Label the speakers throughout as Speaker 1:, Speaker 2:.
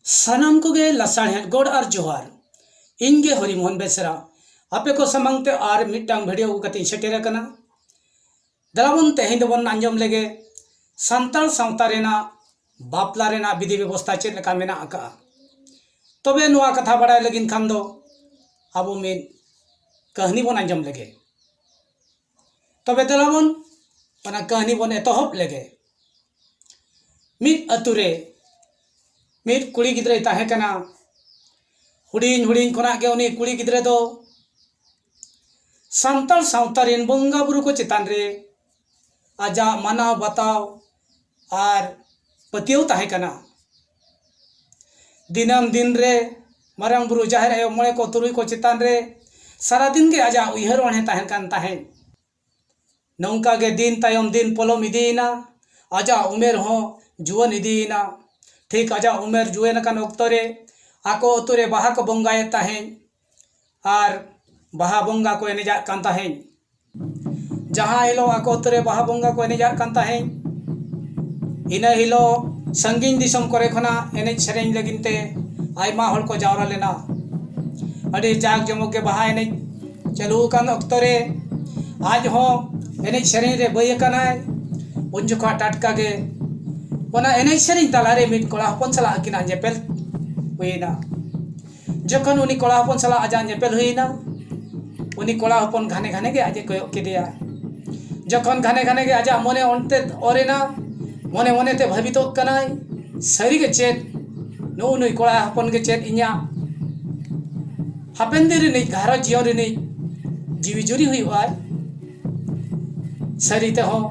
Speaker 1: ᱥᱟᱱᱟᱢ ᱠᱚᱜᱮ ᱞᱟᱥᱟᱲᱦᱮᱫ ᱜᱚᱰ ᱟᱨ ᱡᱚᱦᱟᱨ ᱤᱧ ᱜᱮ ᱦᱚᱨᱤ ᱢᱳᱦᱚᱱ ᱵᱮᱥᱨᱟ ᱟᱯᱮ ᱠᱚ ᱥᱟᱢᱟᱝ ᱛᱮ ᱟᱨ ᱢᱤᱫᱴᱟᱝ ᱵᱷᱤᱰᱤᱭᱳ ᱟᱹᱜᱩ ᱠᱟᱛᱮᱧ ᱥᱮᱴᱮᱨ ᱟᱠᱟᱱᱟ ᱫᱟᱵᱚᱱ ᱛᱮᱦᱮᱧ ᱫᱚᱵᱚᱱ ᱟᱸᱡᱚᱢ ᱞᱮᱜᱮ ᱥᱟᱱᱛᱟᱲ ᱥᱟᱶᱛᱟ ᱨᱮᱱᱟᱜ ᱵᱟᱯᱞᱟ ᱨᱮᱱᱟᱜ ᱵᱤᱫᱷᱤ ᱵᱮᱵᱚᱥᱛᱷᱟ ᱪᱮᱫ ᱞᱮᱠᱟ ᱢᱮᱱᱟᱜ ᱟᱠᱟᱫᱼᱟ ᱛᱚᱵᱮ ᱱᱚᱣᱟ ᱠᱟᱛᱷᱟ ᱵᱟᱲᱟᱭ ᱞᱟᱹᱜᱤᱫ ᱠᱷᱟᱱ ᱫᱚ ᱟᱵᱚ ᱢᱤᱫ ᱠᱟᱹᱦᱱᱤ ᱵᱚᱱ ᱟᱸᱡᱚᱢ ᱞᱮᱜᱮ ᱛᱚᱵᱮ ᱫᱮᱞᱟ ᱵᱚᱱ ᱚᱱᱟ ᱠᱟᱹᱦᱱᱤ ᱵᱚᱱ ᱮᱛᱚᱦᱚᱵ ᱞᱮᱜᱮ ᱢᱤᱫ ᱟᱛᱳ ᱨᱮ ᱢᱤᱫ ᱠᱩᱲᱤ ᱜᱤᱫᱽᱨᱟᱹᱭ ᱛᱟᱦᱮᱸ ᱠᱟᱱᱟ ᱦᱩᱰᱤᱧ ᱦᱩᱰᱤᱧ ᱠᱷᱚᱱᱟᱜ ᱜᱮ ᱩᱱᱤ ᱠᱩᱲᱤ ᱜᱤᱫᱽᱨᱟᱹ ᱫᱚ ᱥᱟᱱᱛᱟᱲ ᱥᱟᱶᱛᱟ ᱨᱮᱱ ᱵᱚᱸᱜᱟ ᱵᱩᱨᱩ ᱠᱚ ᱪᱮᱛᱟᱱ ᱨᱮ ᱟᱡᱟᱜ ᱢᱟᱱᱟᱣ ᱵᱟᱛᱟᱣ ᱟᱨ ᱯᱟᱹᱛᱭᱟᱹᱣ ᱛᱟᱦᱮᱸ ᱠᱟᱱᱟ ᱫᱤᱱᱟᱹᱢ ᱫᱤᱱ ᱨᱮ ᱢᱟᱨᱟᱝ ᱵᱩᱨᱩ ᱡᱟᱦᱮᱨ ᱟᱭᱳ ᱢᱚᱬᱮ ᱠᱚ ᱛᱩᱨᱩᱭ ᱠᱚ ᱪᱮᱛᱟᱱ ᱨᱮ ᱥᱟᱨᱟ ᱫᱤᱱ ᱜᱮ ᱟᱡᱟᱜ ᱩᱭᱦᱟᱹᱨ ᱚᱬᱦᱮ ᱛᱟᱦᱮᱱ ᱠᱟᱱ ᱛᱟᱦᱮᱸᱫ ᱱᱚᱝᱠᱟ ᱜᱮ ᱫᱤᱱ ᱛᱟᱭᱚᱢ ᱫᱤᱱ ᱯᱚᱞᱚᱢ ᱤᱫᱤᱭᱮᱱᱟ ᱟᱡᱟᱜ ᱩᱢᱮᱨ ᱦᱚᱸ ᱡᱩᱣᱟᱹᱱ ᱤᱫᱤᱭᱮᱱᱟ ᱴᱷᱤᱠ ᱟᱡᱟᱜ ᱩᱢᱮᱨ ᱡᱩᱣᱟᱹᱱ ᱟᱠᱟᱱ ᱚᱠᱛᱚ ᱨᱮ ᱟᱠᱚ ᱟᱛᱳ ᱨᱮ ᱵᱟᱦᱟ ᱠᱚ ᱵᱚᱸᱜᱟᱭᱮᱫ ᱛᱟᱦᱮᱸᱫ ᱟᱨ ᱵᱟᱦᱟ ᱵᱚᱸᱜᱟ ᱠᱚ ᱮᱱᱮᱡᱟᱜ ᱠᱟᱱ ᱛᱟᱦᱮᱸᱫ ᱡᱟᱦᱟᱸ ᱦᱤᱞᱳᱜ ᱟᱠᱚ ᱟᱛᱳ ᱨᱮ ᱵᱟᱦᱟ ᱵᱚᱸᱜᱟ ᱠᱚ ᱮᱱᱮᱡᱟᱜ ᱠᱟᱱ ᱛᱟᱦᱮᱸᱫ ᱤᱱᱟᱹ ᱦᱤᱞᱳᱜ ᱥᱟᱺᱜᱤᱧ ᱫᱤᱥᱚᱢ ᱠᱚᱨᱮ ᱠᱷᱚᱱᱟᱜ ᱮᱱᱮᱡ ᱥᱮᱨᱮᱧ ᱞᱟᱹᱜᱤᱫ ᱛᱮ ᱟᱭᱢᱟ ᱦᱚᱲ ᱠᱚ ᱡᱟᱣᱨᱟ ᱞᱮᱱᱟ ᱟᱹᱰᱤ ᱡᱟᱠ ᱡᱚᱢᱚᱠ ᱜᱮ ᱵᱟᱦᱟ ᱮᱱᱮᱡ ᱪᱟᱹᱞᱩ ᱟᱠᱟᱱ ᱚᱠᱛᱚ ᱨᱮ ᱟᱡ ᱦᱚᱸ ᱮᱱᱮᱡ ᱥᱮᱨᱮᱧ ᱨᱮ ᱵᱟᱹᱭ ᱟᱠᱟᱱᱟᱭ ᱩᱱ ᱡᱚᱠᱷᱚᱱ ᱴᱟᱴᱠᱟ ᱜᱮ ᱚᱱᱟ ᱮᱱᱮᱡ ᱥᱮᱨᱮᱧ ᱛᱟᱞᱟᱨᱮ ᱢᱤᱫ ᱠᱚᱲᱟ ᱦᱚᱯᱚᱱ ᱥᱟᱞᱟᱜ ᱟᱹᱠᱤᱱᱟᱜ ᱧᱮᱯᱮᱞ ᱦᱩᱭ ᱮᱱᱟ ᱡᱚᱠᱷᱚᱱ ᱩᱱᱤ ᱠᱚᱲᱟ ᱦᱚᱯᱚᱱ ᱥᱟᱞᱟᱜ ᱟᱡᱟᱜ ᱧᱮᱯᱮᱞ ᱦᱩᱭ ᱮᱱᱟ ᱩᱱᱤ ᱠᱚᱲᱟ ᱦᱚᱯᱚᱱ ᱜᱷᱟᱱᱮ ᱜᱷᱟᱱᱮ ᱜᱮ ᱟᱡ ᱮ ᱠᱚᱭᱚᱜ ᱠᱮᱫᱮᱭᱟ ᱡᱚᱠᱷᱚᱱ ᱜᱷᱟᱱᱮ ᱜᱷᱟᱱᱮ ᱜᱮ ᱟᱡᱟᱜ ᱢᱚᱱᱮ ᱚᱱᱛᱮ ᱚᱨ ᱮᱱᱟ ᱢᱚᱱᱮ ᱢᱚᱱᱮ ᱛᱮ ᱵᱷᱟᱹᱵᱤᱛᱚᱜ ᱠᱟᱱᱟᱭ ᱥᱟᱹᱨᱤ ᱜᱮ ᱪᱮᱫ ᱱᱩᱜᱼᱩ ᱱᱩᱭ ᱠᱚᱲᱟ ᱦᱚᱯᱚᱱ ᱜᱮ ᱪᱮᱫ ᱤᱧᱟᱹᱜ ᱦᱟᱯᱮᱱ ᱫᱤᱱ ᱨᱤᱱᱤᱡ ᱜᱷᱟᱨᱚᱸᱡᱽ ᱡᱤᱭᱚᱱ ᱨᱤᱱᱤᱡ ᱡᱤᱣᱤ ᱡᱩᱨᱤ ᱦᱩᱭᱩᱜ ᱟᱭ ᱥᱟᱹᱨᱤ ᱛᱮᱦᱚᱸ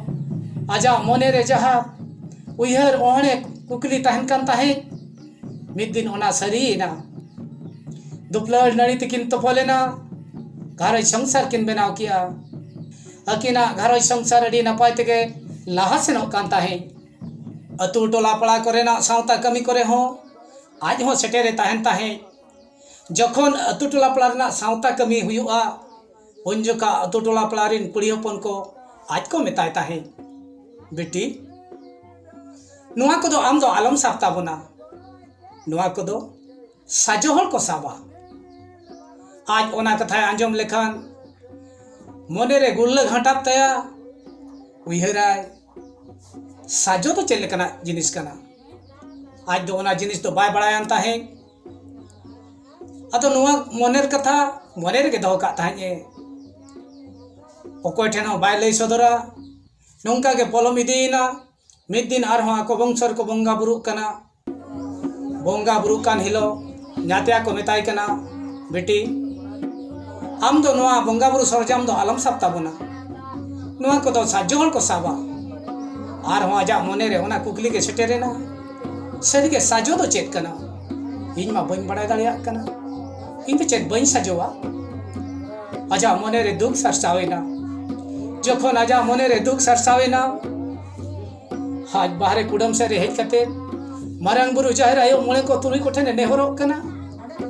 Speaker 1: ᱟᱡᱟᱜ ᱢᱚᱱᱮ ᱨᱮ ᱡᱟᱦᱟᱸ ᱩᱭᱦᱟᱹᱨ ᱚᱦᱚᱲᱮ ᱠᱩᱠᱞᱤ ᱛᱟᱦᱮᱱ ᱠᱟᱱ ᱛᱟᱦᱮᱸᱫ ᱢᱤᱫ ᱫᱤᱱ ᱚᱱᱟ ᱥᱟᱹᱨᱤᱭᱮᱱᱟ ᱫᱩᱯᱞᱟᱹᱲ ᱱᱟᱹᱲᱤ ᱛᱮᱠᱤᱱ ᱛᱚᱯᱚᱞ ᱮᱱᱟ ᱜᱷᱟᱨᱚᱸᱡᱽ ᱥᱚᱝᱥᱟᱨ ᱠᱤᱱ ᱵᱮᱱᱟᱣ ᱠᱮᱜᱼᱟ ᱟᱹᱠᱤᱱᱟᱜ ᱜᱷᱟᱨᱚᱸᱡᱽ ᱥᱚᱝᱥᱟᱨ ᱟᱹᱰᱤ ᱱᱟᱯᱟᱭ ᱛᱮᱜᱮ ᱞᱟᱦᱟ ᱥᱮᱱᱚᱜ ᱠᱟᱱ ᱛᱟᱦᱮᱸᱫ ᱟᱛᱳ ᱴᱚᱞᱟ ᱯᱟᱲᱟ ᱠᱚᱨᱮᱱᱟᱜ ᱥᱟᱶᱛᱟ ᱠᱟᱹᱢᱤ ᱠᱚᱨᱮ ᱦᱚᱸ ᱟᱡ ᱦᱚᱸ ᱥᱮᱴᱮᱨᱮ ᱛᱟᱦᱮᱱ ᱛᱟᱦᱮᱸᱫ ᱡᱚᱠᱷᱚᱱ ᱟᱛᱳ ᱴᱚᱞᱟ ᱯᱟᱲᱟ ᱨᱮᱱᱟᱜ ᱥᱟᱶᱛᱟ ᱠᱟᱹᱢᱤ ᱦᱩᱭᱩᱜᱼᱟ ᱩᱱ ᱡᱚᱠᱷᱟᱜ ᱟᱛᱳ ᱴᱚᱞᱟ ᱯᱟᱲᱟ ᱨᱮᱱ ᱠᱩᱲᱤ ᱦᱚᱯᱚᱱ ᱠᱚ ᱟᱡ ᱠᱚ ᱢᱮᱛᱟᱭ ᱛᱟᱦᱮᱸᱫ ᱵᱤᱴᱤ ᱱᱚᱣᱟ ᱠᱚᱫᱚ ᱟᱢ ᱫᱚ ᱟᱞᱚᱢ ᱥᱟᱵ ᱛᱟᱵᱚᱱᱟ ᱱᱚᱣᱟ ᱠᱚᱫᱚ ᱥᱟᱡᱚ ᱦᱚᱲ ᱠᱚ ᱥᱟᱵᱟ ᱟᱡ ᱚᱱᱟ ᱠᱟᱛᱷᱟᱭ ᱟᱸᱡᱚᱢ ᱞᱮᱠᱷᱟᱱ ᱢᱚᱱᱮ ᱨᱮ ᱜᱩᱨᱞᱟᱹ ᱜᱷᱟᱴᱟᱜ ᱛᱟᱭᱟ ᱩᱭᱦᱟᱹᱨᱟᱭ ᱥᱟᱡᱚ ᱫᱚ ᱪᱮᱫ ᱞᱮᱠᱟᱱᱟᱜ ᱡᱤᱱᱤᱥ ᱠᱟᱱᱟ ᱟᱡ ᱫᱚ ᱚᱱᱟ ᱡᱤᱱᱤᱥ ᱫᱚ ᱵᱟᱭ ᱵᱟᱲᱟᱭᱟᱱ ᱛᱟᱦᱮᱸᱫ ᱟᱫᱚ ᱱᱚᱣᱟ ᱢᱚᱱᱮᱨ ᱠᱟᱛᱷᱟ ᱢᱚᱱᱮ ᱨᱮᱜᱮ ᱫᱚᱦᱚ ᱠᱟᱜ ᱛᱟᱦᱮᱸᱫ ᱮ ᱚᱠᱚᱭ ᱴᱷᱮᱱ ᱦᱚᱸ ᱵᱟᱭ ᱞᱟᱹᱭ ᱥᱚᱫᱚᱨᱟ ᱱᱚᱝᱠᱟ ᱜᱮ ᱯᱚᱞᱚᱢ ᱤᱫᱤᱭᱮᱱᱟ ᱢᱤᱫ ᱫᱤᱱ ᱟᱨᱦᱚᱸ ᱟᱠᱚ ᱵᱚᱝᱥᱚ ᱨᱮᱠᱚ ᱵᱚᱸᱜᱟ ᱵᱩᱨᱩᱜ ᱠᱟᱱᱟ ᱵᱚᱸᱜᱟ ᱵᱩᱨᱩᱜ ᱠᱟᱱ ᱦᱤᱞᱳᱜ ᱧᱟᱛᱭᱟ ᱠᱚ ᱢᱮᱛᱟᱭ ᱠᱟᱱᱟ ᱵᱤᱴᱤ ᱟᱢ ᱫᱚ ᱱᱚᱣᱟ ᱵᱚᱸᱜᱟ ᱵᱩᱨᱩ ᱥᱚᱨᱚᱡᱟᱢ ᱫᱚ ᱟᱞᱚᱢ ᱥᱟᱵ ᱛᱟᱵᱚᱱᱟ ᱱᱚᱣᱟ ᱠᱚᱫᱚ ᱥᱟᱡᱽᱡᱚ ᱦᱚᱲ ᱠᱚ ᱥᱟᱵᱟ ᱟᱨᱦᱚᱸ ᱟᱡᱟᱜ ᱢᱚᱱᱮ ᱨᱮ ᱚᱱᱟ ᱠᱩᱠᱞᱤ ᱜᱮ ᱥᱮᱴᱮᱨᱮᱱᱟ ᱥᱟᱹᱨᱤ ᱜᱮ ᱥᱟᱡᱚ ᱫᱚ ᱪᱮᱫ ᱠᱟᱱᱟ ᱤᱧ ᱢᱟ ᱵᱟᱹᱧ ᱵᱟᱲᱟᱭ ᱫᱟᱲᱮᱭᱟᱜ ᱠᱟᱱᱟ ᱤᱧ ᱫᱚ ᱪᱮᱫ ᱵᱟᱹᱧ ᱥᱟᱡᱚᱣᱟ ᱟᱡᱟᱜ ᱢᱚᱱᱮ ᱨᱮ ᱫᱩᱠ ᱥᱟᱨᱥᱟᱣ ᱮᱱᱟ ᱡᱚᱠᱷᱚᱱ ᱟᱡᱟᱜ ᱢᱚᱱᱮ ᱨᱮ ᱫᱩᱠ ᱥᱟᱨᱥᱟᱣ ᱮᱱᱟ ᱟᱡ ᱵᱟᱦᱨᱮ ᱠᱩᱰᱟᱹᱢ ᱥᱮᱫ ᱨᱮ ᱦᱮᱡ ᱠᱟᱛᱮ ᱢᱟᱨᱟᱝ ᱵᱩᱨᱩ ᱡᱟᱦᱮᱨ ᱟᱭᱳ ᱢᱚᱬᱮ ᱠᱚ ᱛᱩᱨᱩᱭ ᱠᱚ ᱴᱷᱮᱱ ᱮ ᱱᱮᱦᱚᱨᱚᱜ ᱠᱟᱱᱟ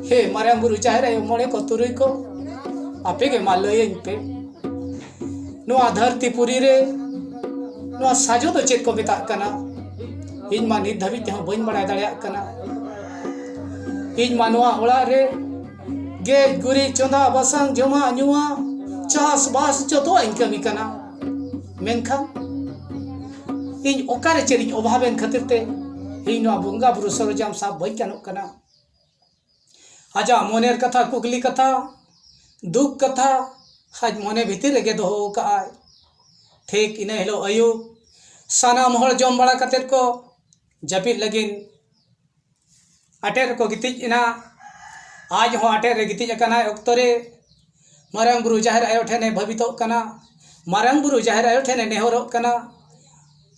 Speaker 1: ᱦᱮ ᱢᱟᱨᱟᱝ ᱵᱩᱨᱩ ᱡᱟᱦᱮᱨ ᱟᱭᱳ ᱢᱚᱬᱮ ᱠᱚ ᱛᱩᱨᱩᱭ ᱠᱚ ᱟᱯᱮ ᱜᱮ ᱢᱟ ᱞᱟᱹᱭᱟᱹᱧ ᱯᱮ ᱱᱚᱣᱟ ᱫᱷᱟᱹᱨᱛᱤ ᱯᱩᱨᱤ ᱨᱮ ᱱᱚᱣᱟ ᱥᱟᱡᱚ ᱫᱚ ᱪᱮᱫ ᱠᱚ ᱢᱮᱛᱟᱜ ᱠᱟᱱᱟ ᱤᱧ ᱢᱟ ᱱᱤᱛ ᱫᱷᱟᱹᱵᱤᱡ ᱛᱮᱦᱚᱸ ᱵᱟᱹᱧ ᱵᱟᱲᱟᱭ ᱫᱟᱲᱮᱭᱟᱜ ᱠᱟᱱᱟ ᱤᱧ ᱢᱟ ᱱᱚᱣᱟ ᱚᱲᱟᱜ ᱨᱮ ᱜᱮᱡ ᱜᱩᱨᱤᱡ ᱪᱚᱸᱫᱟ ᱵᱟᱥᱟᱝ ᱡᱚᱢᱟᱜ ᱧᱩᱣᱟᱜ ᱪᱟᱥ ᱵᱟᱥ ᱡᱚᱛᱚᱣᱟᱜ ᱤᱧ ᱠᱟᱹᱢᱤ ᱠᱟᱱᱟ ᱢᱮᱱᱠᱷᱟᱱ ᱤᱧ ᱚᱠᱟᱨᱮ ᱪᱮᱫ ᱤᱧ ᱚᱵᱷᱟᱵᱮᱱ ᱠᱷᱟᱹᱛᱤᱨ ᱛᱮ ᱤᱧ ᱱᱚᱣᱟ ᱵᱚᱸᱜᱟ ᱵᱩᱨᱩ ᱥᱚᱨᱚᱡᱟᱢ ᱥᱟᱵ ᱵᱟᱹᱧ ᱜᱟᱱᱚᱜ ᱠᱟᱱᱟ ᱟᱡᱟᱜ ᱢᱚᱱᱮᱨ ᱠᱟᱛᱷᱟ ᱠᱩᱠᱞᱤ ᱠᱟᱛᱷᱟ ᱫᱩᱠ ᱠᱟᱛᱷᱟ ᱟᱡ ᱢᱚᱱᱮ ᱵᱷᱤᱛᱤᱨ ᱨᱮᱜᱮ ᱫᱚᱦᱚ ᱟᱠᱟᱫ ᱟᱭ ᱴᱷᱤᱠ ᱤᱱᱟᱹ ᱦᱤᱞᱳᱜ ᱟᱹᱭᱩᱵ ᱥᱟᱱᱟᱢ ᱦᱚᱲ ᱡᱚᱢ ᱵᱟᱲᱟ ᱠᱟᱛᱮᱫ ᱠᱚ ᱡᱟᱹᱯᱤᱫ ᱞᱟᱹᱜᱤᱫ ᱟᱴᱮᱫ ᱨᱮᱠᱚ ᱜᱤᱛᱤᱡ ᱮᱱᱟ ᱟᱡ ᱦᱚᱸ ᱟᱴᱮᱫ ᱨᱮ ᱜᱤᱛᱤᱡ ᱟᱠᱟᱱᱟᱭ ᱚᱠᱛᱚ ᱨᱮ ᱢᱟᱨᱟᱝ ᱵᱩᱨᱩ ᱡᱟᱦᱮᱨ ᱟᱭᱳ ᱴᱷᱮᱱᱮ ᱵᱷᱟᱹᱵᱤᱛᱚᱜ ᱠᱟᱱᱟ ᱢᱟᱨᱟᱝ ᱵᱩᱨᱩ ᱡᱟᱦᱮᱨ ᱟᱭᱳ ᱴᱷᱮᱱᱮ ᱱᱮᱦᱚᱨᱚᱜ ᱠᱟᱱᱟ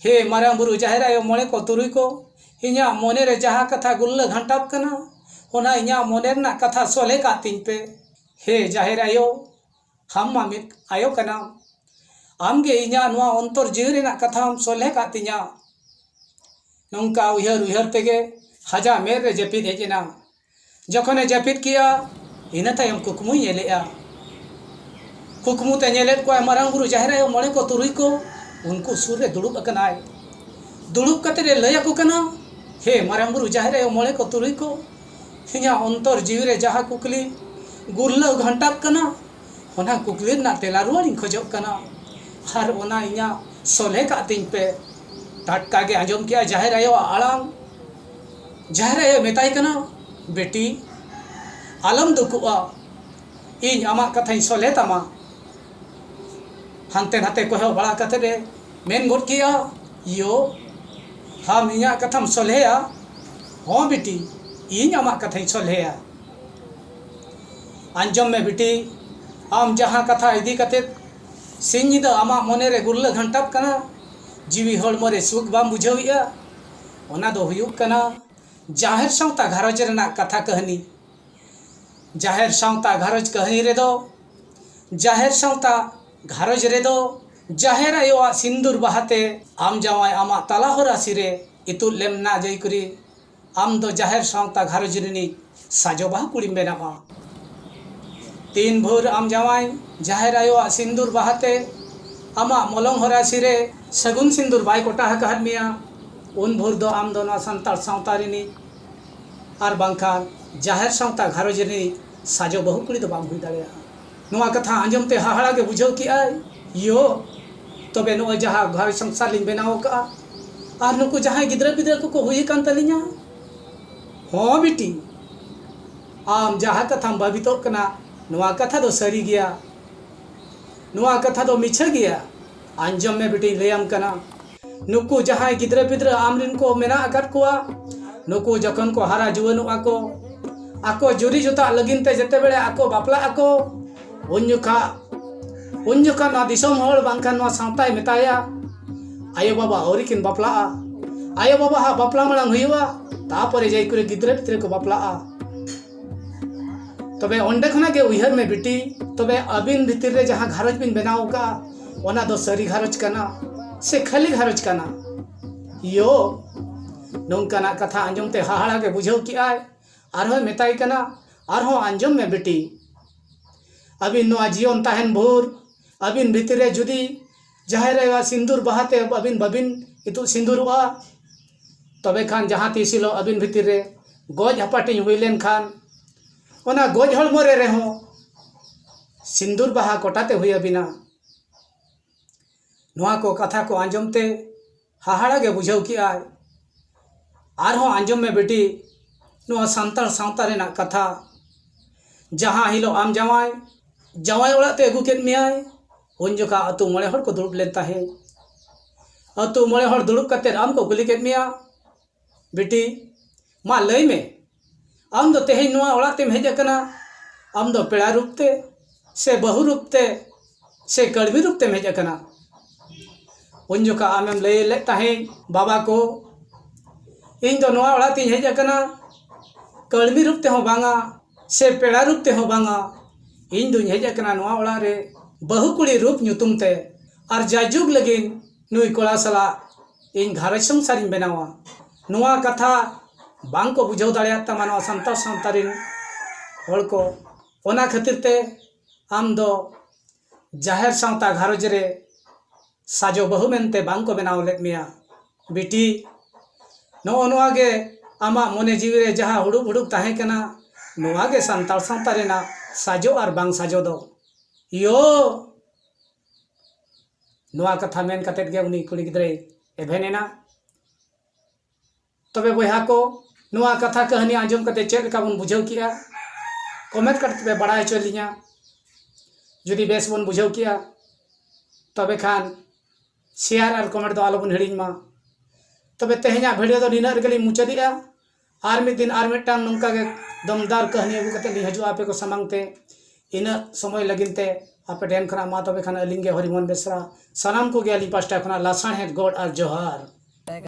Speaker 1: ᱦᱮ ᱢᱟᱨᱟᱝ ᱵᱩᱨᱩ ᱡᱟᱦᱮᱨ ᱟᱭᱳ ᱢᱚᱬᱮ ᱠᱚ ᱛᱩᱨᱩᱭ ᱠᱚ ᱤᱧᱟᱹᱜ ᱢᱚᱱᱮ ᱨᱮ ᱡᱟᱦᱟᱸ ᱠᱟᱛᱷᱟ ᱜᱩᱞᱞᱟᱹ ᱜᱷᱟᱱᱴᱟᱜ ᱠᱟᱱᱟ ᱚᱱᱟ ᱤᱧᱟᱹᱜ ᱢᱚᱱᱮ ᱨᱮᱱᱟᱜ ᱠᱟᱛᱷᱟ ᱥᱚᱞᱦᱮ ᱠᱟᱜ ᱛᱤᱧ ᱯᱮ ᱦᱮ ᱡᱟᱦᱮᱨ ᱟᱭᱳ ᱟᱢ ᱢᱟ ᱢᱤᱫ ᱟᱭᱳ ᱠᱟᱱᱟᱢ ᱟᱢ ᱜᱮ ᱤᱧᱟᱹᱜ ᱱᱚᱣᱟ ᱚᱱᱛᱚᱨ ᱡᱤᱣᱤ ᱨᱮᱱᱟᱜ ᱠᱟᱛᱷᱟᱢ ᱥᱚᱞᱦᱮ ᱠᱟᱜ ᱛᱤᱧᱟᱹ ᱱᱚᱝᱠᱟ ᱩᱭᱦᱟᱹᱨ ᱩᱭᱦᱟᱹᱨ ᱛᱮᱜᱮ ᱟᱡᱟᱜ ᱢᱮᱫ ᱨᱮ ᱡᱟᱹᱯᱤᱫ ᱦᱮᱡ ᱮᱱᱟ ᱡᱚᱠᱷᱚᱱᱮ ᱡᱟᱹᱯᱤᱫ ᱠᱮᱜᱼᱟ ᱤᱱᱟᱹ ᱛᱟᱭᱚᱢ ᱠᱩᱠᱢᱩᱭ ᱧᱮᱞᱮᱜᱼᱟ ᱠᱩᱠᱢᱩᱛᱮ ᱧᱮᱞᱮᱫ ᱠᱚᱣᱟᱭ ᱢᱟᱨᱟᱝ ᱵᱩᱨᱩ ᱡᱟᱦᱮᱨ ᱟᱭᱳ ᱢᱚᱬᱮ ᱠᱚ ᱛᱩᱨᱩᱭ ᱠᱚ ᱩᱱᱠᱩ ᱥᱩᱨ ᱨᱮ ᱫᱩᱲᱩᱵ ᱟᱠᱟᱱᱟᱭ ᱫᱩᱲᱩᱵ ᱠᱟᱛᱮᱫ ᱮ ᱞᱟᱹᱭ ᱟᱠᱚ ᱠᱟᱱᱟ ᱦᱮ ᱢᱟᱨᱟᱝ ᱵᱩᱨᱩ ᱡᱟᱦᱮᱨ ᱟᱭᱳ ᱢᱚᱬᱮ ᱠᱚ ᱛᱩᱨᱩᱭ ᱠᱚ ᱤᱧᱟᱹᱜ ᱚᱱᱛᱚᱨ ᱡᱤᱣᱤ ᱨᱮ ᱡᱟᱦᱟᱸ ᱠᱩᱠᱞᱤ ᱜᱩᱨᱞᱟᱹᱣ ᱜᱷᱟᱱᱴᱟᱜ ᱠᱟᱱᱟ ᱚᱱᱟ ᱠᱩᱠᱞᱤ ᱨᱮᱱᱟᱜ ᱛᱮᱞᱟ ᱨᱩᱣᱟᱹᱲ ᱤᱧ ᱠᱷᱚᱡᱚᱜ ᱠᱟᱱᱟ ᱟᱨ ᱚᱱᱟ ᱤᱧᱟᱹᱜ ᱥᱚᱞᱦᱮ ᱠᱟᱜ ᱛᱤᱧ ᱯᱮ ᱴᱟᱴᱠᱟ ᱜᱮ ᱟᱸᱡᱚᱢ ᱠᱮᱜᱼᱟᱭ ᱡᱟᱦᱮᱨ ᱟᱭᱳᱣᱟᱜ ᱟᱲᱟᱝ ᱡᱟᱦᱟᱸᱭ ᱟᱭᱳᱭ ᱢᱮᱛᱟᱭ ᱠᱟᱱᱟ ᱵᱤᱴᱤ ᱟᱞᱚᱢ ᱫᱩᱠᱩᱜᱼᱟ ᱤᱧ ᱟᱢᱟᱜ ᱠᱟᱛᱷᱟᱧ ᱥᱚᱞᱦᱮ ᱛᱟᱢᱟ ᱦᱟᱱᱛᱮ ᱱᱟᱛᱮ ᱠᱚᱭᱚᱜ ᱵᱟᱲᱟ ᱠᱟᱛᱮ ᱮ ᱢᱮᱱ ᱜᱚᱫ ᱠᱮᱜᱼᱟ ᱭᱳ ᱟᱢ ᱤᱧᱟᱹᱜ ᱠᱟᱛᱷᱟᱢ ᱥᱚᱞᱦᱮᱭᱟ ᱦᱚᱸ ᱵᱤᱴᱤ ᱤᱧ ᱟᱢᱟᱜ ᱠᱟᱛᱷᱟᱧ ᱥᱚᱞᱦᱮᱭᱟ ᱟᱸᱡᱚᱢ ᱢᱮ ᱵᱤᱴᱤ ᱟᱢ ᱡᱟᱦᱟᱸ ᱠᱟᱛᱷᱟ ᱤᱫᱤ ᱠᱟᱛᱮ ᱥᱤᱧ ᱧᱤᱫᱟᱹ ᱟᱢᱟᱜ ᱢᱚᱱᱮ ᱨᱮ ᱜᱩᱨᱞᱟᱹ ᱜᱷᱟᱱᱴᱟᱜ ᱠᱟᱱᱟ ᱡᱤᱣᱤ ᱦᱚᱲᱢᱚ ᱨᱮ ᱥᱩᱠ ᱵᱟᱢ ᱵᱩᱡᱷᱟᱹᱣᱮᱜᱼᱟ ᱚᱱᱟ ᱫᱚ ᱦᱩᱭᱩᱜ ᱠᱟᱱᱟ ᱡᱟᱦᱮᱨ ᱥᱟᱶᱛᱟ ᱜᱷᱟᱨᱚᱸᱡᱽ ᱨᱮᱱᱟᱜ ᱠᱟᱛᱷᱟ ᱠᱟᱹᱦᱱᱤ ᱡᱟᱦᱮᱨ ᱥᱟᱶᱛᱟ ᱜᱷᱟᱨᱚᱸᱡᱽ ᱠᱟᱹᱦᱱᱤ ᱨᱮᱫᱚ ᱡᱟᱦᱮᱨ ᱥᱟᱶᱛᱟ ᱜᱷᱟᱨᱚᱸᱡᱽ ᱨᱮᱫᱚ ᱡᱟᱦᱮᱨ ᱟᱭᱳᱣᱟᱜ ᱥᱤᱸᱫᱩᱨ ᱵᱟᱦᱟ ᱛᱮ ᱟᱢ ᱡᱟᱶᱟᱭ ᱟᱢᱟᱜ ᱛᱟᱞᱟ ᱦᱚᱨᱟ ᱥᱤᱨᱮ ᱤᱛᱩᱫ ᱞᱮᱢ ᱱᱟ ᱡᱟᱹᱭ ᱠᱩᱨᱤ ᱟᱢ ᱫᱚ ᱡᱟᱦᱮᱨ ᱥᱟᱶᱛᱟ ᱜᱷᱟᱨᱚᱸᱡᱽ ᱨᱤᱱᱤᱡ ᱥᱟᱡᱚ ᱵᱟᱦᱟ ᱠᱩᱲᱤᱢ ᱵᱮᱱᱟᱜᱼᱟ ᱛᱤᱱ ᱵᱷᱳᱨ ᱟᱢ ᱡᱟᱶᱟᱭ ᱡᱟᱦᱮᱨ ᱟᱭᱳᱣᱟᱜ ᱥᱤᱸᱫᱩᱨ ᱵᱟᱦᱟ ᱛᱮ ᱟᱢᱟᱜ ᱢᱚᱞᱚᱝ ᱦᱚᱨᱟᱥᱤ ᱨᱮ ᱥᱟᱹᱜᱩᱱ ᱥᱤᱸᱫᱩᱨ ᱵᱟᱭ ᱠᱚᱴᱟ ᱟᱠᱟᱫ ᱢᱮᱭᱟ ᱩᱱ ᱵᱷᱳᱨ ᱫᱚ ᱟᱢ ᱫᱚ ᱱᱚᱣᱟ ᱥᱟᱱᱛᱟᱲ ᱥᱟᱶᱛᱟ ᱨᱤᱱᱤᱡ ᱟᱨ ᱵᱟᱝᱠᱷᱟᱱ ᱡᱟᱦᱮᱨ ᱥᱟᱶᱛᱟ ᱜᱷᱟᱨᱚᱸᱡᱽ ᱨᱤᱱᱤᱡ ᱥᱟᱡᱚ ᱵᱟᱹᱦᱩ ᱠᱩᱲᱤ ᱫᱚ ᱵᱟᱢ ᱦᱩᱭ ᱫᱟᱲᱮᱭᱟᱜᱼᱟ ᱱᱚᱣᱟ ᱠᱟᱛᱷᱟ ᱟᱸᱡᱚᱢ ᱛᱮ ᱦᱟᱦᱟᱲᱟ ᱜᱮ ᱵᱩᱡᱷᱟᱹᱣ ᱠᱮᱫ ᱟᱭ ᱭᱳ ᱛᱚᱵᱮ ᱱᱚᱜᱼᱚᱭ ᱡᱟᱦᱟᱸ ᱜᱷᱟᱨᱚᱸᱡᱽ ᱥᱚᱝᱥᱟᱨ ᱞᱤᱧ ᱵᱮᱱᱟᱣ ᱟᱠᱟᱫᱼᱟ ᱟᱨ ᱱᱩᱠᱩ ᱡᱟᱦᱟᱸᱭ ᱜᱤᱫᱽᱨᱟᱹ ᱯᱤᱫᱽᱨᱟᱹ ᱠᱚᱠᱚ ᱦᱩᱭ ᱟᱠᱟᱱ ᱛᱟᱹᱞᱤᱧᱟ ᱦᱚᱸ ᱵᱤᱴᱤ, ᱟᱢ ᱡᱟᱦᱟᱸ ᱠᱟᱛᱷᱟᱢ ᱵᱷᱟᱹᱵᱤᱛᱚᱜ ᱠᱟᱱᱟ ᱱᱚᱶᱟ ᱠᱟᱛᱷᱟ ᱫᱚ ᱥᱟᱹᱨᱤ ᱜᱮᱭᱟ᱾ ᱱᱚᱶᱟ ᱠᱟᱛᱷᱟ ᱫᱚ ᱢᱤᱪᱷᱟᱹ ᱜᱮᱭᱟ᱾ ᱟᱸᱡᱚᱢ ᱢᱮ ᱵᱤᱴᱤᱧ ᱞᱟᱹᱭ ᱟᱢ ᱠᱟᱱᱟ᱾ ᱱᱩᱠᱩ ᱡᱟᱦᱟᱸᱭ ᱜᱤᱫᱽᱨᱟᱹ ᱯᱤᱫᱽᱨᱟᱹ ᱟᱢ ᱨᱤᱱ ᱠᱚ ᱢᱮᱱᱟᱜ ᱟᱠᱟᱫ ᱠᱚᱣᱟ, ᱱᱩᱠᱩ ᱡᱚᱠᱷᱚᱱ ᱠᱚ ᱦᱟᱨᱟ ᱡᱩᱣᱟᱹᱱᱚᱜᱼᱟ ᱠᱚ, ᱟᱠᱚ ᱡᱩᱨᱤ ᱡᱚᱛᱟᱜ ᱞᱟᱹᱜᱤᱫ ᱛᱮ ᱡᱮᱛᱮ ᱵᱮᱲᱮ ᱟᱠᱚ ᱵᱟᱯᱞᱟᱜ ᱟᱠᱚ, ᱩᱱ ᱡᱚᱠᱷᱟᱜ ᱩᱱ ᱡᱚᱠᱷᱟᱜ ᱱᱚᱣᱟ ᱫᱤᱥᱚᱢ ᱦᱚᱲ ᱵᱟᱝᱠᱷᱟᱱ ᱱᱚᱣᱟ ᱥᱟᱶᱛᱟᱭ ᱢᱮᱛᱟᱭᱟ ᱟᱭᱳ ᱵᱟᱵᱟ ᱟᱹᱣᱨᱤ ᱠᱤᱱ ᱵᱟᱯᱞᱟᱜᱼᱟ ᱟᱭᱳ ᱵᱟᱵᱟ ᱦᱟᱸᱜ ᱵᱟᱯᱞᱟ ᱢᱟᱲᱟᱝ ᱦᱩᱭᱩᱜᱼᱟ ᱛᱟᱯᱚᱨᱮ ᱡᱟᱭ ᱠᱚᱨᱮ ᱜᱤᱫᱽᱨᱟᱹ ᱯᱤᱫᱽᱨᱟᱹ ᱠᱚ ᱵᱟᱯᱞᱟᱜᱼᱟ ᱛᱚᱵᱮ ᱚᱸᱰᱮ ᱠᱷᱚᱱᱟᱜ ᱜᱮ ᱩᱭᱦᱟᱹᱨ ᱢᱮ ᱵᱤᱴᱤ ᱛᱚᱵᱮ ᱟᱹᱵᱤᱱ ᱵᱷᱤᱛᱤᱨ ᱨᱮ ᱡᱟᱦᱟᱸ ᱜᱷᱟᱨᱚᱸᱡᱽ ᱵᱤᱱ ᱵᱮᱱᱟᱣ ᱟᱠᱟᱫᱼᱟ ᱚᱱᱟ ᱫᱚ ᱥᱟᱹᱨᱤ ᱜᱷᱟᱨᱚᱸᱡᱽ ᱠᱟᱱᱟ ᱥᱮ ᱠᱷᱟᱹᱞᱤ ᱜᱷᱟᱨᱚᱸᱡᱽ ᱠᱟᱱᱟ ᱭᱳ ᱱᱚᱝᱠᱟᱱᱟᱜ ᱠᱟᱛᱷᱟ ᱟᱸᱡᱚᱢ ᱛᱮ ᱦᱟᱦᱟᱲᱟ ᱜᱮ ᱵᱩᱡᱷᱟᱹᱣ ᱠᱮᱜᱼᱟᱭ ᱟᱨᱦᱚᱸᱭ ᱢᱮᱛᱟᱭ ᱠᱟᱱᱟ ᱟᱨᱦᱚᱸ ᱟᱸᱡᱚᱢ ᱢᱮ ᱵᱤᱴᱤ ᱟᱹᱵᱤᱱ ᱱᱚᱣᱟ ᱡᱤᱭᱚᱱ ᱛᱟᱦᱮᱱ ᱵᱷᱳᱨ ᱟᱹᱵᱤᱱ ᱵᱷᱤᱛᱤᱨ ᱨᱮ ᱡᱩᱫᱤ ᱡᱟᱦᱮᱨ ᱟᱭᱳ ᱟᱜ ᱥᱤᱸᱫᱩᱨ ᱵᱟᱦᱟ ᱛᱮ ᱟᱹᱵᱤᱱ ᱵᱟᱹᱵᱤᱱ ᱤᱛᱩᱫ ᱥᱤᱸᱫᱩᱨᱚᱜᱼᱟ ᱛᱚᱵᱮ ᱠᱷᱟᱱ ᱡᱟᱦᱟᱸ ᱛᱤᱥ ᱦᱤᱞᱳᱜ ᱟᱹᱵᱤᱱ ᱵᱷᱤᱛᱤᱨ ᱨᱮ ᱜᱚᱡ ᱦᱟᱹᱯᱟᱹᱴᱤᱧ ᱦᱩᱭ ᱞᱮᱱᱠᱷᱟᱱ ᱚᱱᱟ ᱜᱚᱡ ᱦᱚᱲᱢᱚ ᱨᱮ ᱨᱮᱦᱚᱸ ᱥᱤᱸᱫᱩᱨ ᱵᱟᱦᱟ ᱠᱚᱴᱟᱛᱮ ᱦᱩᱭ ᱟᱹᱵᱤᱱᱟ ᱱᱚᱣᱟ ᱠᱚ ᱠᱟᱛᱷᱟ ᱠᱚ ᱟᱸᱡᱚᱢ ᱛᱮ ᱦᱟᱦᱟᱲᱟ ᱜᱮ ᱵᱩᱡᱷᱟᱹᱣ ᱠᱮᱜ ᱟᱭ ᱟᱨᱦᱚᱸ ᱟᱸᱡᱚᱢ ᱢᱮ ᱵᱤᱴᱤ ᱱᱚᱣᱟ ᱥᱟᱱᱛᱟᱲ ᱥᱟᱶᱛᱟ ᱨᱮᱱᱟᱜ ᱠᱟᱛᱷᱟ ᱡᱟᱦᱟᱸ ᱦᱤᱞᱳᱜ ᱟᱢ ᱡᱟᱶᱟᱭ ᱡᱟᱶᱟᱭ ᱚᱲᱟᱜ ᱛᱮ ᱟᱹᱜᱩ ᱠᱮᱫ ᱢᱮᱭᱟᱭ ᱩᱱ ᱡᱚᱠᱷᱟᱜ ᱟᱛᱳ ᱢᱚᱬᱮ ᱦᱚᱲ ᱠᱚ ᱫᱩᱲᱩᱵ ᱞᱮᱱ ᱛᱟᱦᱮᱸᱫ ᱟᱛᱳ ᱢᱚᱬᱮ ᱦᱚᱲ ᱫᱩᱲᱩᱵ ᱠᱟᱛᱮ ᱟᱢ ᱠᱚ ᱠᱩᱞᱤ ᱠᱮᱫ ᱢᱮᱭᱟ ᱵᱤᱴᱤ ᱢᱟ ᱞᱟᱹᱭ ᱢᱮ ᱟᱢ ᱫᱚ ᱛᱮᱦᱮᱧ ᱱᱚᱣᱟ ᱚᱲᱟᱜ ᱛᱮᱢ ᱦᱮᱡ ᱟᱠᱟᱱᱟ ᱟᱢ ᱫᱚ ᱯᱮᱲᱟ ᱨᱩᱯ ᱛᱮ ᱥᱮ ᱵᱟᱹᱦᱩ ᱨᱩᱯ ᱛᱮ ᱥᱮ ᱠᱟᱹᱲᱢᱤ ᱨᱩᱯ ᱛᱮᱢ ᱦᱮᱡ ᱟᱠᱟᱱᱟ ᱩᱱ ᱡᱚᱠᱷᱟᱜ ᱟᱢᱮᱢ ᱞᱟᱹᱭ ᱞᱮᱫ ᱛᱟᱦᱮᱸᱫ ᱵᱟᱵᱟ ᱠᱚ ᱤᱧ ᱫᱚ ᱱᱚᱣᱟ ᱚᱲᱟᱜ ᱛᱮᱧ ᱦᱮᱡ ᱟᱠᱟᱱᱟ ᱠᱟᱹᱲᱢᱤ ᱨᱩᱯ ᱛᱮᱦᱚᱸ ᱵᱟᱝᱟ ᱥᱮ ᱯᱮᱲᱟ ᱨᱩᱯ ᱛᱮᱦᱚᱸ ᱵᱟᱝᱟ ᱤᱧ ᱫᱚᱧ ᱦᱮᱡ ᱟᱠᱟᱱᱟ ᱱᱚᱣᱟ ᱚᱲᱟᱜ ᱨᱮ ᱵᱟᱹᱦᱩ ᱠᱩᱲᱤ ᱨᱩᱯ ᱧᱩᱛᱩᱢ ᱛᱮ ᱟᱨ ᱡᱟᱭᱡᱩᱜᱽ ᱞᱟᱹᱜᱤᱫ ᱱᱩᱭ ᱠᱚᱲᱟ ᱥᱟᱞᱟᱜ ᱤᱧ ᱜᱷᱟᱨᱚᱸᱡᱽ ᱥᱚᱝᱥᱟᱨᱤᱧ ᱵᱮᱱᱟᱣᱟ ᱱᱚᱣᱟ ᱠᱟᱛᱷᱟ ᱵᱟᱝ ᱠᱚ ᱵᱩᱡᱷᱟᱹᱣ ᱫᱟᱲᱮᱭᱟᱜ ᱛᱟᱢᱟ ᱱᱚᱣᱟ ᱥᱟᱱᱛᱟᱲ ᱥᱟᱶᱛᱟ ᱨᱮᱱ ᱦᱚᱲ ᱠᱚ ᱚᱱᱟ ᱠᱷᱟᱹᱛᱤᱨ ᱛᱮ ᱟᱢ ᱫᱚ ᱡᱟᱦᱮᱨ ᱥᱟᱶᱛᱟ ᱜᱷᱟᱨᱚᱸᱡᱽ ᱨᱮ ᱥᱟᱡᱚ ᱵᱟᱹᱦᱩ ᱢᱮᱱᱛᱮ ᱵᱟᱝ ᱠᱚ ᱵᱮᱱᱟᱣ ᱞᱮᱫ ᱢᱮᱭᱟ ᱵᱤᱴᱤ ᱱᱚᱜᱼᱚ ᱱᱚᱣᱟ ᱜᱮ ᱟᱢᱟᱜ ᱢᱚᱱᱮ ᱡᱤᱣᱤ ᱨᱮ ᱡᱟᱦᱟᱸ ᱦᱩᱲᱩᱜ ᱦᱩᱲᱩᱜ ᱛᱟᱦᱮᱸ ᱠᱟᱱᱟ ᱱᱚᱣᱟ ᱜᱮ ᱥᱟᱱᱛᱟᱲ ᱥᱟᱶᱛᱟ ᱨᱮᱱᱟᱜ ᱥᱟᱡᱚ ᱟᱨ ᱵᱟᱝ ᱥᱟᱡᱚ ᱫᱚ ᱤᱭᱳ ᱱᱚᱣᱟ ᱠᱟᱛᱷᱟ ᱢᱮᱱ ᱠᱟᱛᱮ ᱜᱮ ᱩᱱᱤ ᱠᱩᱲᱤ ᱜᱤᱫᱽᱨᱟᱹᱭ ᱮᱵᱷᱮᱱ ᱮᱱᱟ ᱛᱚᱵᱮ ᱵᱚᱭᱦᱟ ᱠᱚ ᱱᱚᱣᱟ ᱠᱟᱛᱷᱟ ᱠᱟᱹᱦᱱᱤ ᱟᱸᱡᱚᱢ ᱠᱟᱛᱮ ᱪᱮᱫ ᱞᱮᱠᱟ ᱵᱚᱱ ᱵᱩᱡᱷᱟᱹᱣ ᱠᱮᱜᱼᱟ ᱠᱚᱢᱮᱱᱴ ᱠᱟᱛᱮ ᱯᱮ ᱵᱟᱲᱟᱭ ᱦᱚᱪᱚ ᱞᱤᱧᱟ ᱡᱩᱫᱤ ᱵᱮᱥ ᱵᱚᱱ ᱵᱩᱡᱷᱟᱹᱣ ᱠᱮᱜᱼᱟ ᱛᱚᱵᱮ ᱠᱷᱟᱱ ᱥᱮᱭᱟᱨ ᱟᱨ ᱠᱚᱢᱮᱱᱴ ᱫᱚ ᱟᱞᱚ ᱵᱚᱱ ᱦᱤᱲᱤᱧ ᱢᱟ ᱛᱚᱵᱮ ᱛᱮᱦᱮᱧᱟᱜ ᱵᱷᱤᱰᱤᱭᱳ ᱫᱚ ᱱᱤᱱᱟᱹᱜ ᱨᱮᱜᱮ ᱞᱤᱧ ᱢᱩᱪᱟᱹᱫᱮᱜᱼᱟ ᱟᱨ ᱢᱤᱫ ᱫᱤᱱ ᱟᱨ ᱢᱤᱫᱴᱟᱝ ᱱᱚᱝᱠᱟ ᱜᱮ ᱫᱚᱢᱫᱟᱨ ᱠᱟᱹᱦᱱᱤ ᱟᱹᱜᱩ ᱠᱟᱛᱮ ᱞᱤᱧ ᱦᱤᱡᱩᱜᱼᱟ ᱟᱯᱮ ᱠᱚ ᱥᱟᱢᱟᱝ ᱛᱮ ᱤᱱᱟᱹᱜ ᱥᱚᱢᱚᱭ ᱞᱟᱹᱜᱤᱫ ᱛᱮ ᱟᱯᱮ ᱴᱷᱮᱱ ᱠᱷᱚᱱᱟᱜ ᱢᱟ ᱛᱚᱵᱮ ᱠᱷᱟᱱ ᱟᱹᱞᱤᱧ ᱜᱮ ᱦᱚᱨᱤᱢᱳᱦᱚᱱ ᱵᱮᱥᱨᱟ ᱥᱟᱱᱟᱢ ᱠᱚᱜᱮ ᱟᱹᱞᱤᱧ ᱯᱟᱥᱴᱟ ᱠᱷᱚᱱᱟᱜ ᱞᱟᱥᱟᱬᱦᱮᱫ ᱜᱚᱰ ᱟᱨ ᱡᱚᱦᱟᱨ